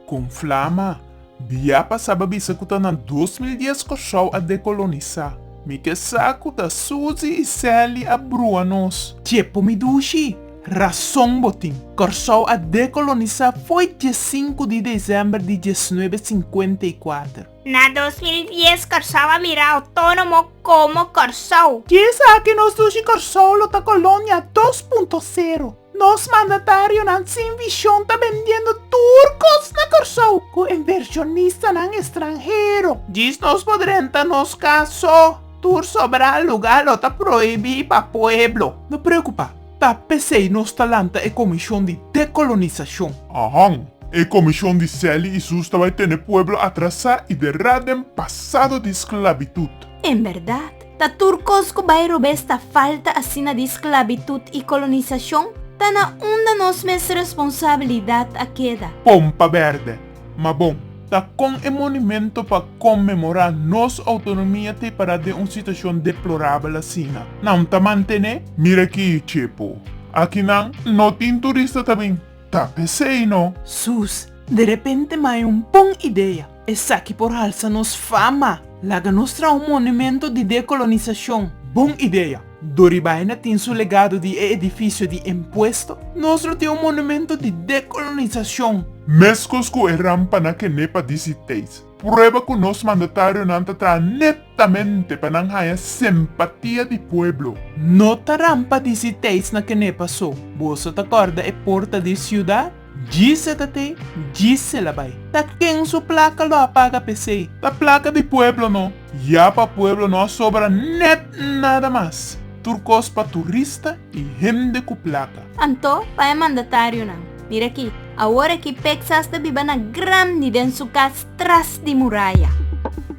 Kon flama, bia pasaba bisa ku ta na dos mil dies Kòrsou a dekolonisá. Mi ke sa ku ta Suzi i Seli a brua nos. Dje por mi dushi, rason bo tin. Kòrsou a dekolonisá fo'i dje sinku di desèmber di diesnuebe sinkuenta i kuater. Na dos mil dies Kòrsou a mirau tono mo komo Kòrsou. Di esaki nos dushi Kòrsou lo ta kolonia dos punto sero. Nos mandatarionan sin vishon ta bendiendo tur kos na Kòrsou ku invershonistanan estranhero. Djis nos por renta nos kas so. Tur sobra luga lo ta prohibí pa pueblo. No preokupá. Ta p'esei nos ta lanta e Comishon di Decolonisashon. Ahon, e Comishon di Sally i Sus ta bai tene pueblo atrasá i derrá den pasado di sklabitut. En bèrdat, ta tur kos ku bai robes ta falta asina di sklabitut i kolonisashon, ta na unda nos mes responsabilidat a keda. Pompa Bèrdè. Ma bon, ta kon e monumento pa konmemorá nos outonomia ta e pará den un situashon deplorabel asina? Nan ta mantené? Mira akí, Chepo. Aki nan no tin turista ta bin. Ta p'esei no. Sus, derepente m'haya un bon idea. Esaki por halsa nos fama. Laga nos traha un monumento di dekolonisashon. Bon idea. Dori Baena tin su legado di e edifisio di Empuesto, nos lo tin un monumento di dekolonisacion. Mescos cu e rampa na Kenepa DC Tate, prueba cu nos mandatarionan ta traha netamente pa nan haya simpatia di pueblo. No ta rampa DC Tate na Kenepa so, boso ta corda e porta di ciudad? Djise ta tei, djise la bai. Ta ken su plaka lo a paga pesei. Ta plaka di pueblo no. Ya pa pueblo no a sobra net nada mas. Tur kos pa turista i hende ku plaka. Anto pa e mandatarionan, mira aki, awor aki Peksas ta biba na grandi den su kas tras di muraya.